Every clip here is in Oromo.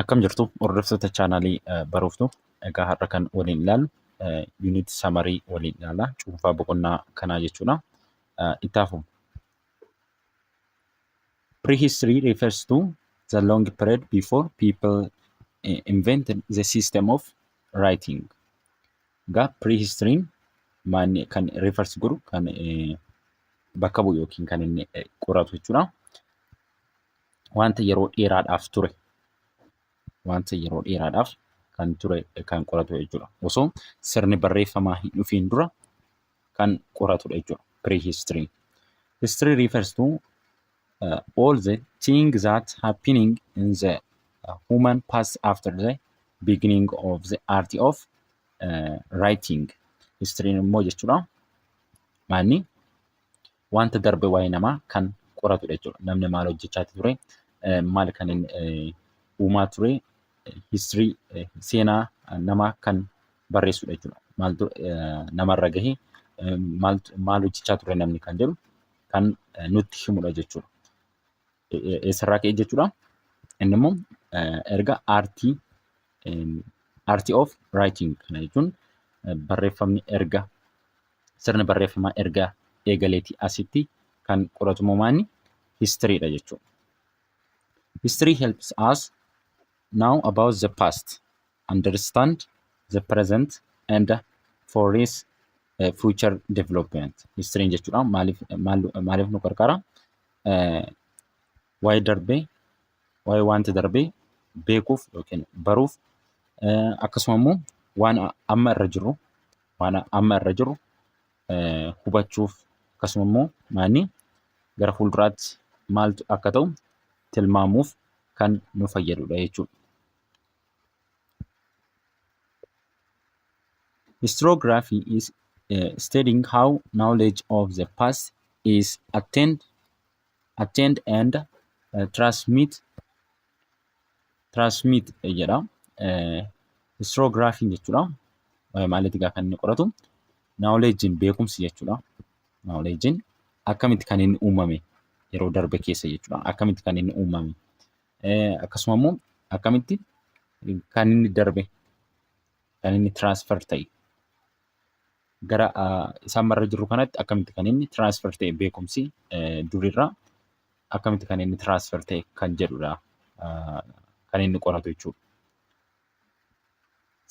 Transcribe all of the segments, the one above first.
Akkam jirtu hordoftoota chaanaalii baruuftu egaa har'a kan waliin ilaallu yuunit samarii waliin ilaalla cuunfaa boqonnaa kanaa jechuudha. Ittaafu. Prehistory refers to the long period before people invented the system of writing. Egaa prehistory'n maanni kan refers godhu kan bakka bu'u yookiin kan inni qoratu jechuudha. Wanta yeroo dheeraadhaaf ture wanta yeroo dheeraadhaaf kan ture kan qoratu jechuudha. Osoo sirni barreeffamaa hin dhufiin dura kan qoratudha jechuudha. Prehistory. History refers to uh, all the things that happening in the uh, human past after the beginning of the art of uh, writing. History immoo jechuudha. Maalni wanta darbe waa'ee namaa kan qoratudha jechuudha. Namni maal hojjechaa ture, maal kan uumaa ture, history seenaa namaa kan barreessudha jechuudha. Maaltu namarra gahe, maal hojjechaa ture namni kan jedhu kan nutti himudha jechuudha. eessarraa ka'e jechuudha. Inni immoo erga aartii aartii of raayiting kana jechuun barreeffamni erga sirni barreeffamaa erga eegaleetii asitti kan qoratu moomaanni histiriidha jechuudha. History helps us now about the past, understand the present and foresees uh, future development. History jechuudha maaliif maaliif nu gargaara? waa'ee darbee waa'ee wanta darbee beekuuf yookiin baruuf akkasuma immoo waan amma irra jiru waan amma irra jiru hubachuuf akkasuma immoo maanni gara fuulduraatti maaltu akka ta'u tilmaamuuf kan nu fayyadudha jechuudha. Historiography is uh, studying how knowledge of the past is attained, attained and uh, transmit transmit eh, jedha. Eh, Historiography jechuudha. Eh, Maalitti gaafa inni qoratu knowledge'n beekumsi jechuudha. Knowledge'n akkamitti kan inni uumame yeroo darbe keessa jechuudha. Akkamitti kan inni uumame. Akkasuma immoo akkamitti kan inni darbe kan inni transfer ta'e gara isaan marra jirru kanatti akkamitti kan inni transfer ta'e beekumsi durirraa akkamitti kan inni transfer ta'e kan jedhudha kan inni qoratu jechuudha.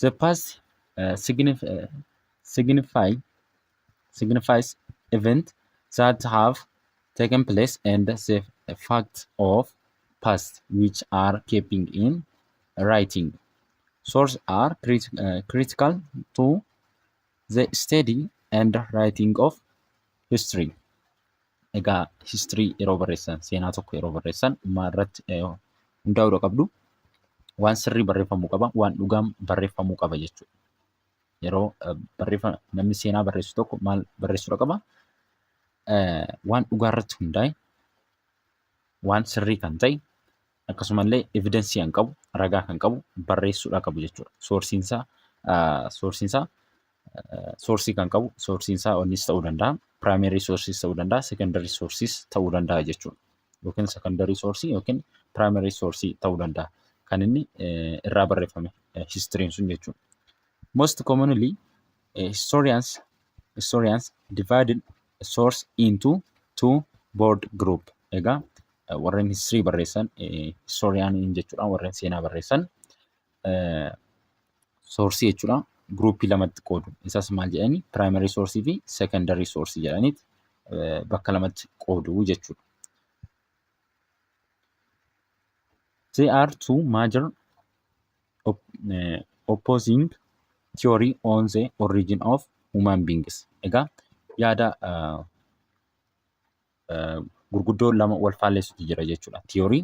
The past signify signifies event that have taken place and the facts of past which are keeping in writing. Source are crit- uh, critical to the study and writing of history. Egaa history yeroo barreessan seenaa tokko yeroo barreessan maa irratti eh, hundaa'uudha qabdu. Waan sirrii barreeffamuu qaba, waan dhugaan barreeffamuu qaba jechuudha. yeroo barreeffama namni seenaa barreessu tokko maal barreessuudha qaba? Waan dhugaa irratti hundaa'e, waan sirrii kan ta'e, akkasumallee evidensii kan qabu, ragaa kan qabu barreessuudha qabu jechuudha. Soorsiin isaa soorsiin isaa soorsii kan qabu soorsiin isaa onnis ta'uu danda'a, primary sources ta'uu danda'a, secondary sources ta'uu danda'a jechuudha. yookiin secondary source yookiin primary source ta'uu danda'a. Kan inni irraa barreeffame history sun jechuudha. Most commonly historians historians divided source into two board group. Egaa warreen history barreessan historian jechuudha warreen seenaa barreessan soorsii jechuudha. Guruupii lamatti qoodu. Isas maal jedhani? Piraayimarii soorsii fi seekandarii soorsii jedhaniiti bakka lamatti qoodu jechuudha. There are two major op uh, opposing theory on the origin of human beings. Egaa yaada uh, gurguddoo lama wal faallessutu jira jechuudha. Tiyoorii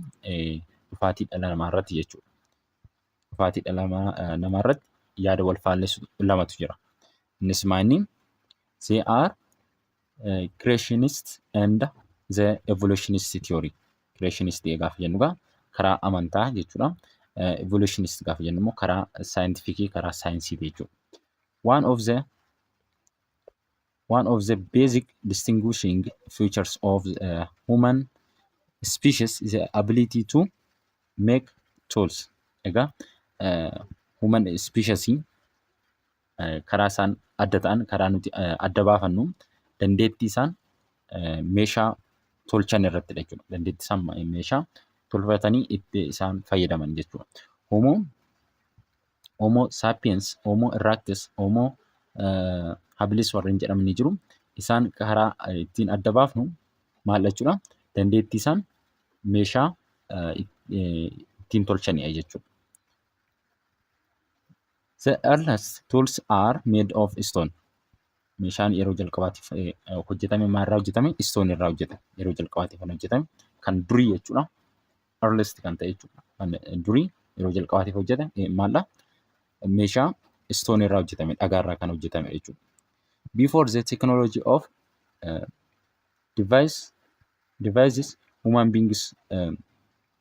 dhufaatii dhala namaa irratti jechuudha. Dhufaatii dhala namaa irratti yaada wal faallessu lamatu jira. Innis maayinni they are uh, creationist and the evolutionist theory. Creationist gaafa jennu egaa karaa amantaa jechuudha. Uh, evolutionist gaafa jennu immoo karaa saayintifikii karaa saayinsiiti jechuudha. One of the One of the basic distinguishing features of the human species is the ability to make tools. Egaa eh, human species eh, karaa isaan adda ta'an, karaa nuti eh, adda baafannu dandeettii isaan eh, meeshaa tolchan irratti dha jechuudha. Dandeettii isaan ma- meeshaa tolfatanii itti isaan fayyadaman jechuudha. Homo Homo sapiens, Homo erectus, Homo habilis warreen jedhaman ni jiru. Isaan karaa ittiin adda baafnu maal jechuudha? Dandeettii isaan meeshaa ittiin tolchanidha jechuudha. The earliest tools are made of stone. Meeshaan yeroo jalqabaatiif hojjetame maalirraa hojjetame? Stone irraa hojjetame. Yeroo jalqabaatiif kan hojjetame kan durii jechuudha. earliest kan ta'e jechuudha. Kan durii yeroo jalqabaatiif hojjete eh, maaldha? Meeshaa stone irraa hojjetame, dhagaa irraa kan hojjetame jechuudha. Before the technology of uh, device, devices, human beings um,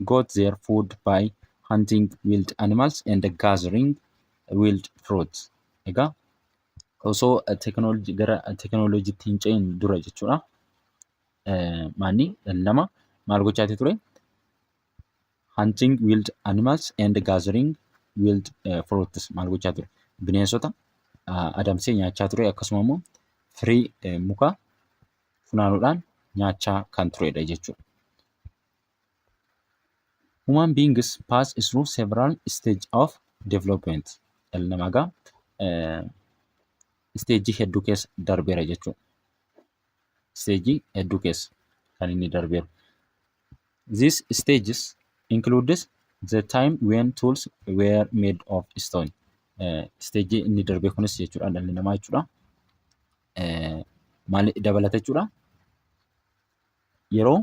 got their food by hunting wild animals and gathering wild fruits. Egaa osoo tekinooloojii gara tekinooloojiitti hin ce'in dura jechuudha. maanni dhalli namaa maal gochaati ture? Hunting wild animals and gathering wild eh, fruits maal gochaa ture? Bineensota ah, adamsee nyaachaa ture akkasuma immoo firii eh, mukaa funaanuudhaan nyaachaa kan turedha jechuudha. Human beings pass through several stage of development. Dhalli namaa egaa eh, isteejii hedduu keessa darbeera jechuudha. isteejii hedduu keessa kan inni darbeeru. These stages includes the time when tools were made of stone. Isteejii inni darbee kunis jechuudha dhalli namaa jechuudha. Maal dabalata jechuudha? Yeroo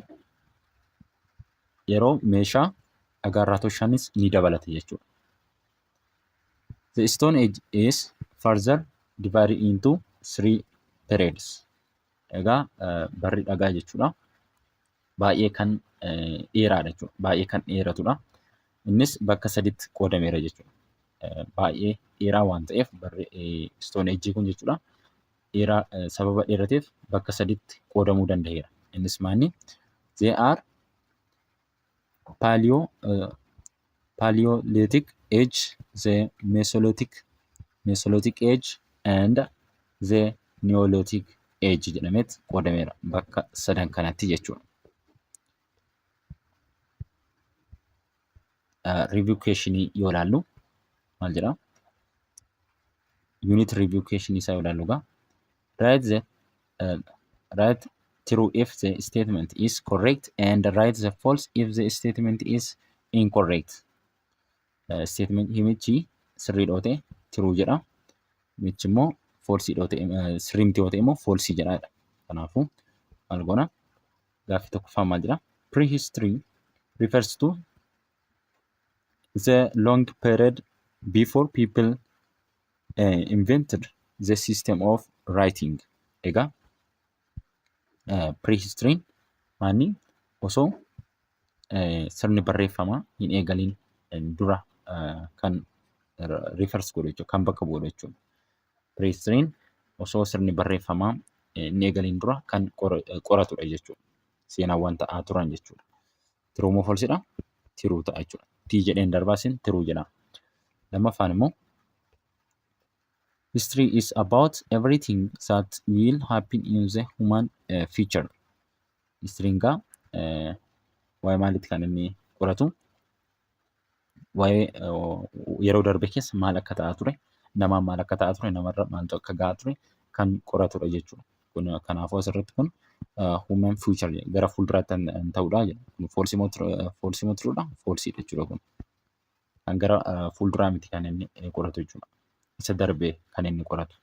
yeroo meeshaa dhagaarraa tolchanis ni dabalata jechuudha. The Stone Age is further divided into three periods. Egaa eh, barri dhagaa jechuudha. Baay'ee kan eh, dheeraadha jechuudha. Baay'ee kan dheeratudha. Innis bakka saditti qoodameera jechuudha. Eh, Baay'ee dheeraa waan ta'eef barri eh, Stone Age kun jechuudha. Dheeraa eh, sababa dheerateef bakka saditti qoodamuu danda'eera. Innis maanni? They are paleo uh, paleolithic age the mesolithic mesolithic age and the neolithic age jedhameet qoodameera bakka sadan kanatti jechuudha. Review questionii yoo ilaallu maal jedha? Unit review questionii isaa yoo ilaallu egaa Write the uh, write true if the statement is correct and write the false if the statement is incorrect. Uh, statement himichi sirrii dhoote true jedha. Michi immoo false dhoote uh, sirrii miti dhoote immoo false jedha. Kanaafuu maal goona? Gaaffii tokkoffaa maal jedha? Prehistory refers to the long period before people eh, invented the system of writing egaa eh, prehistoryin maanni osoo eh, sirni barreeffamaa hin eegaliin eh, dura eh, kan r- reverse godhu jechuudha kan bakka bu'u jechuudha prehistoryin osoo sirni barreeffamaa eh, hin eegaliin dura kan qora- eh, qoratudha jechuudha seenaawwan ta'aa turan jechuudha Tiruu moo falsidha? Tiruu ta'a jechuudha. Tii jedheen darbaa sin tiruu jedha. Lammaffaan immoo History is about everything that will happen in the human uh, future. History gaa uh, waa'ee maalitti kan inni qoratu? waa'ee yeroo darbe keessa maal akka ta'aa ture, namaan maal akka ta'aa ture, namarra maaltu akka ga'aa ture kan qoratudha jechuudha. Kun kanaafuu asirratti kun human future jedha. Gara fuulduraatti kan kan ta'udha jedha. Kun false moo true dha? False moo true dha? False dha jechuudha kun. Kan gara eh, fuulduraa miti kan inni eh, qoratu jechuudha. Isa darbe kan inni qoratu.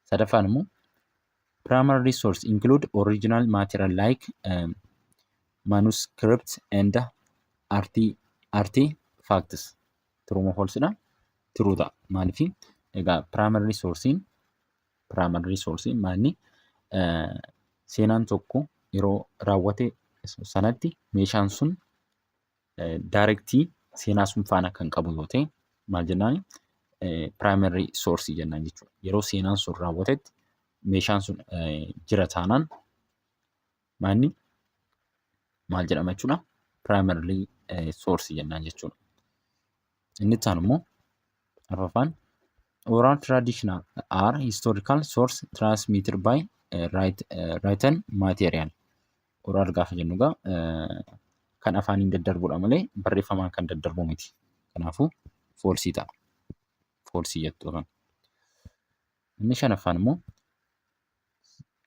Sadaffaan immoo Primary resource include original material like um, manuscripts and arti artifacts. True moo false dha? True ta'a. Maaliif? Egaa primary resource'n primary resource'n maalni eh, seenaan tokko yeroo raawwate sanatti meeshaan sun Daarektii seenaa sun faana kan qabu yoo ta'e maal jennaan piraayimarii soorsii jennaan jechuudha. Yeroo seenaan sun raawwatetti meeshaan sun jira taanaan maanni maal jedhama jechuudha piraayimarii soorsii jennaan jechuudha. Inni itti aanu immoo afraffaan oral traditional are historical source transmitted by eh, right, eh, written material. Oral gaafa jennu egaa eh, kan afaaniin daddarbudha malee barreeffamaan kan daddarbu miti. Kanaafuu foolsii ta'a. Foolsii jettu afaan. Inni shanaffaan immoo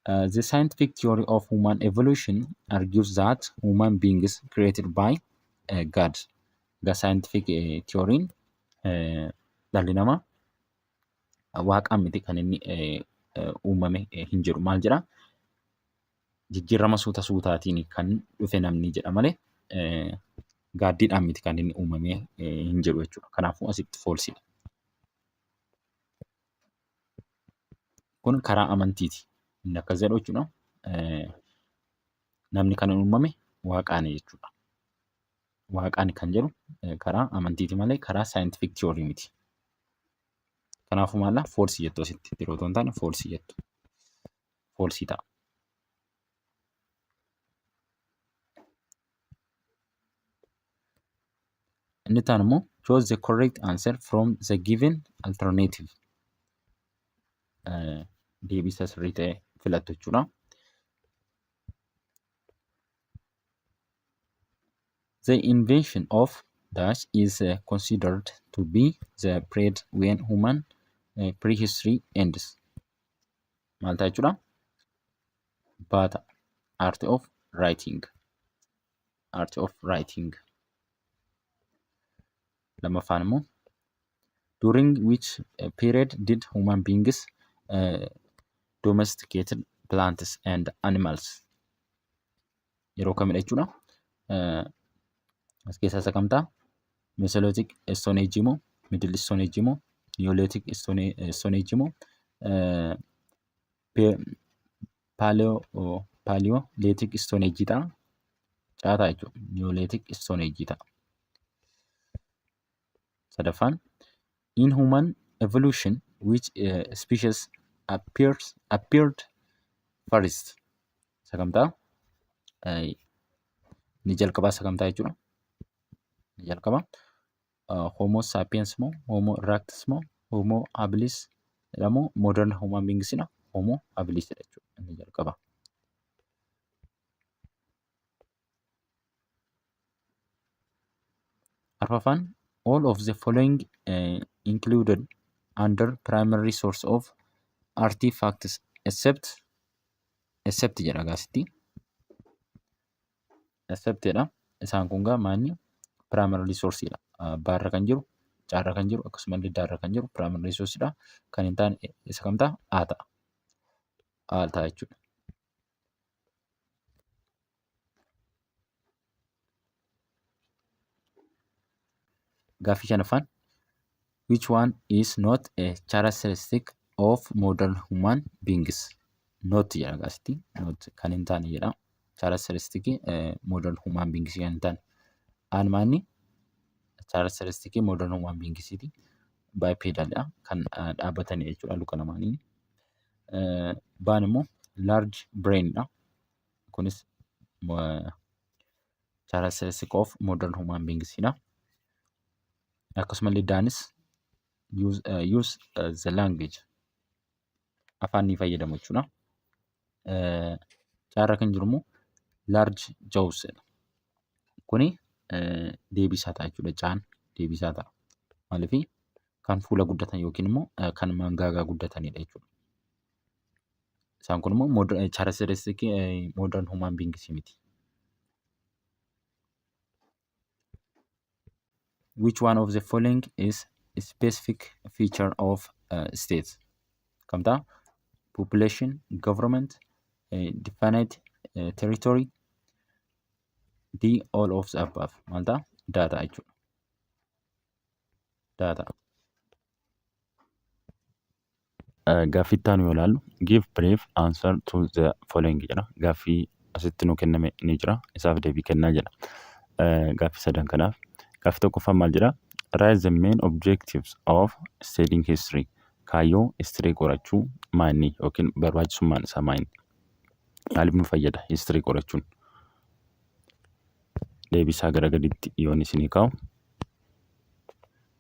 Uh, the scientific theory of human evolution argues that human beings created by uh, God. The scientific uh, theory uh, dhalli namaa waaqaan miti kan inni uh, uh, uumame uh, hin jedhu maal jedha jijjiirama suuta suutaatiin kan dhufe namni jedha malee uh, gaaddiidhaan miti kan inni uumame uh, hin jedhu jechuudha. Kanaafuu asitti foolsiidha. Kun karaa amantiiti. Inni akkas jedhu jechuudha. Namni kan uumame waaqaani jechuudha. Waaqaani kan jedhu karaa amantiiti malee karaa saayintifik tiyoorii miti. Kanaafuu maala foolsii jettu asitti tiruu otoo hin taane foolsii jettu. Foolsii ta'a. Inni itti aanu immoo choose the correct answer from the given alternative. Eh, Deebii isa sirrii ta'e filattu jechuudha. The invention of dash is uh, considered to be the period when human uh, prehistory ends. Maal ta'a jechuudha? baata art of writing art of writing lammaffaan immoo during which uh, period did human beings uh, domesticated plants and animals yeroo kamidha jechuudha uh, as keessaa isa kamtaa mesolithic stone age moo middle stone age moo neolithic stone stone age moo uh, Paaliyoolitik istoonejii ta'a. Caataa jechuudha. Niyoolitik istoonejii ta'a. Sadaffaan in human evolution which species appears appeared first isa kam ta'a? Inni jalqabaa isa kam ta'a jechuudha? Inni jalqabaa. Homo sapiens moo Homo erectus moo Homo habilis dha moo modern human beings dha Homo habilis dha jechuudha inni jalqaba. Arfaffaan all of the following uh, included under primary source of artifacts except except jedha gaasitti. accepted dha. Isaan kun gaa maanni primary resource dha. Abbaa irra kan jiru, C irra kan jiru akkasuma illee D irra kan jiru primary resource dha. Kan hin taane isa kam ta'a? A ta'a. A ta'a jechuudha. Gaaffii shanaffaan Which one is not a characteristic of modern human beings? Not jedha akkasitti. Not kan hin taane jedha. Characteristic eh, modern human beings kan hin taane. Aanmaanni characteristic modern human beings ti. Bipedal dha. Kan ah, dhaabbatani jechuudha luka lamaanii. Eh, Baan immoo large brain dha. Kunis eh, characteristic of modern human beings dha. Akkasumallee Daanis use, uh, use uh, the language afaan ni fayyadamu jechuudha. Uh, Caarra kan jiru immoo large jaws dha. Kuni uh, deebisaa ta'a jechuudha. Caan deebisaa ta'a. Maaliif kan fuula guddatan yookiin immoo uh, kan mangaagaa guddatanidha jechuudha. Isaan kun immoo characteristikii modern human beings miti. Which one of the following is a specific feature of uh, states? Kam ta'a? Population, government, uh, definite uh, territory, D all of the above. Maal ta'a? Data jechuudha. Data. Gaaffii itti aanu yoo ilaallu give brief answer to the following jedha. Gaaffii asitti nu kenname ni jira. Isaaf deebii kennaa jedha. Gaaffii sadan kanaaf. Gaaffii tokkoffaan maal jedha? Write the main objectives of studying history. Kaayyoo history qorachuu maanni yookiin barbaachisummaan isaa maanni? Maaliif nu fayyada history qorachuun? Deebisaa gara gaditti yoon isinii kaa'u.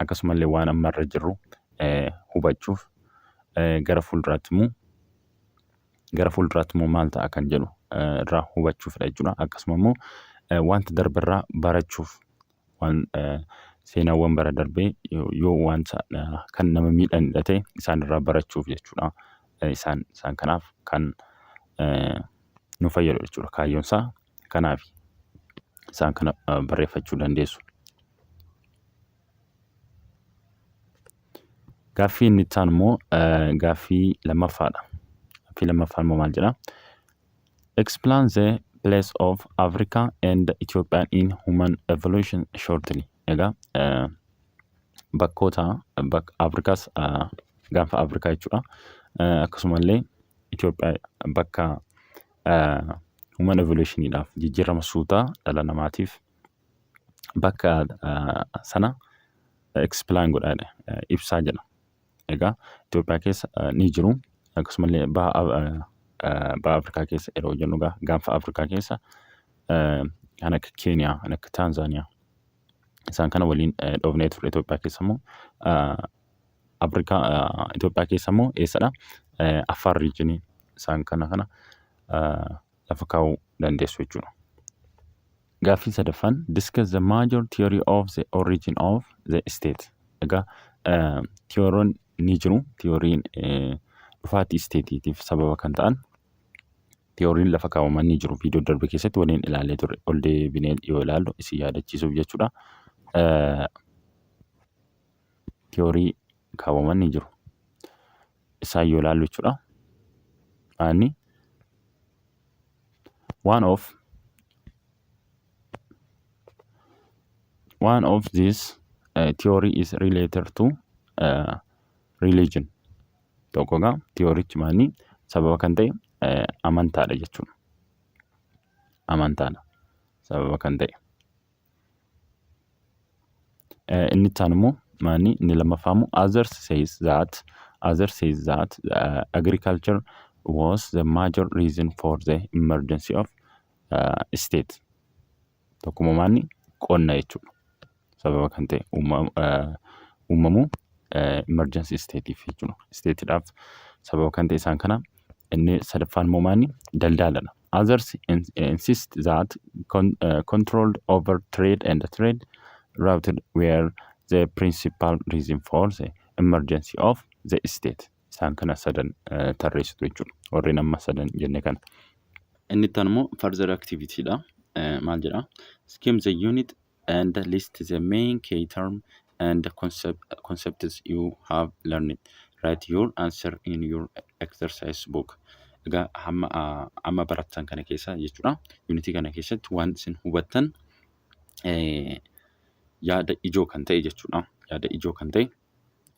akkasumallee waan amma irra jirru eh, hubachuuf eh, gara fuulduraatti immoo gara fuulduraatti immoo maal ta'a kan jedhu eh, irraa hubachuufidha jechuudha. Akkasuma immoo eh, wanta darbe irraa barachuuf waan eh, seenaawwan bara darbee yoo yoo wanta eh, kan nama miidhanidha ta'e isaan irraa barachuuf jechuudha. Eh, Isaan isaan kanaaf kan eh, nu fayyadu jechuudha kaayyoon isaa. Kanaaf isaan kana barreeffachuu dandeessu. Gaaffii inni itti aanu immoo gaaffii lammaffaadha. Gaaffii lammaffaan immoo maal jedha? Explain the place of Africa and Ethiopia in human evolution shortly. Egaa bakkoota bakka Afrikaas gaanfa Afrikaa jechuudha. Akkasumallee Itoophiyaa bakka Human evolution dhaaf jijjiirama suutaa dhala namaatiif bakka sana explain godhaa ibsaa jedha. Egaa Itoophiyaa keessa ni jiru akkasumallee baha Afrikaa keessa yeroo jennu gaanfa Afrikaa keessa kan akka Keeniyaa, kan akka Taanzaaniyaa. isaan kana waliin dhoofnee turre Itoophiyaa keessa immoo Afrikaa Itoophiyaa keessa immoo eessadha Affaar riijinii isaan kana kana lafa kaa'uu dandeessu jechuudha. Gaaffii sadaffaan discuss the major theory of the origin of the state. Egaa tiyooroon ni jiru tiyooriin dhufaatii isteetiitiif sababa kan ta'an Tiyooriin lafa kaawwaman ni jiru. Viidiyoo darbe keessatti waliin ilaalee ture. Ol deebinee yoo ilaallu isin yaadachiisuuf jechuudha. Tiyoorii kaawwaman ni jiru. Isaan yoo ilaallu jechuudha. Aanni one of one of this uh, theory is related to uh, religion tokko egaa tiyoorichumaan sababa kan ta'e eh, amantaadha jechuudha. Amantaadha sababa kan ta'e. Eh, Inni itti aanu immoo maanni inni lammaffaa immoo others says that others says that uh, agriculture was the major reason for the emergency of uh, state. Tokkuma maanni qonna jechuudha. Sababa kan ta'e uumamuu emergency state jechuudha. Stateedhaaf sababa kan ta'e isaan kana inni sadaffaan immoo maanni daldaaladha. Others insist that controlled over trade and trade routed were the principal reason for the emergency of the state. Isaan kana sadan tarreessitu jechuudha. Warreen amma sadan jenne kana. Inni itti aanu immoo further activity dha. Maal jedha? Skim the unit and list the main key term and concept, concepts you have learned. Write your answer in your exercise book. Egaa hamma amma barattan kana keessa jechuudha. Yuunitii kana keessatti waan isin hubattan yaada ijoo kan ta'e jechuudha. Yaada ijoo kan ta'e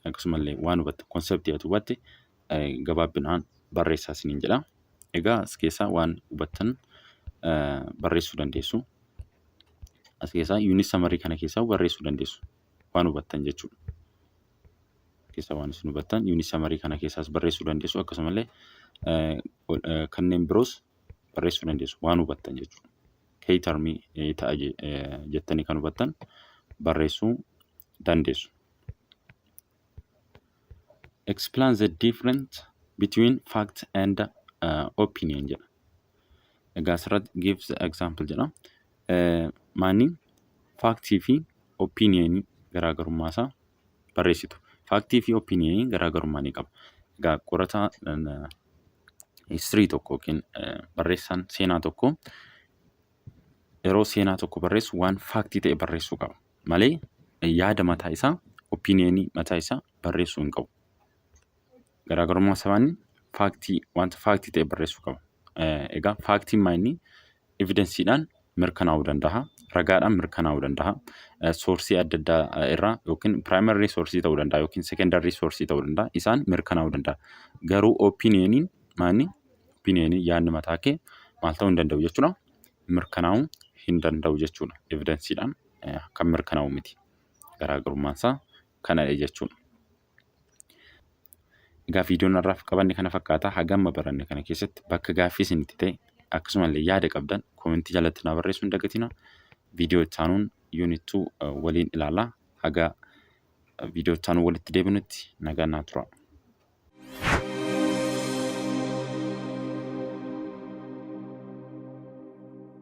akkasumallee waan hubatte konseptii ati hubatte gabaabbinaan barreessaa isiniin jedha. Egaa as keessaa waan hubattan barreessuu dandeessu. As keessaa yuunit samarii kana keessaa barreessuu dandeessu. Waan hubattan jechuudha. Keessaa waan isin hubattan yuunit samarii kana keessaas barreessuu dandeessu akkasumallee kanneen biroos barreessuu dandeessu waan hubattan jechuudha. key termii eh, ta'a je- eh, jettanii kan hubattan barreessuu dandeessu. Explain the difference between fact and uh, opinion jedha. Egaa asirratti give the example jedha. Eh, Maanni faaktii fi opinion garaagarummaa isaa barreessitu. Faaktii fi opiniinii garaagarummaa ni qaba. Egaa qorataa histirii tokko yookiin barreessaan seenaa tokko yeroo seenaa tokko barreessu waan faaktii ta'e barreessuu qaba. Malee yaada mataa isaa opiniinii mataa isaa barreessuu hin qabu. Garaagarummaa sabaanii faaktii wanta faaktii ta'e barreessuu qaba. Egaa faaktiin maayinni evidensiidhaan mirkanaa'uu danda'a. Ragaadhaan mirkanaa'uu danda'a. Soorsii adda addaa irraa yookiin piraayimarii soorsii ta'uu danda'a yookiin sekendarii soorsii ta'uu danda'a. Isaan mirkanaa'uu danda'a. Garuu opiiniyeeniin maayinni opiiniyeeniin yaadni mataa kee maal ta'uu hin danda'u jechuudha. Mirkanaa'uu hin danda'u jechuudha. Evidensiidhaan kan mirkanaa'u miti. Garaagarummaan isaa kanadha jechuudha. Egaa viidiyoon har'aaf qabanne kana fakkaata. Hagamma baranne kana keessatti bakka gaaffii isinitti ta'e akkasumallee yaada qabdan koomentii jalatti naa barreessuu hin dagatina. Viidiyoo itti aanuun yuunit 2 waliin ilaalla. Haga viidiyoo itti aanuun walitti deebinutti nagaan naa tura.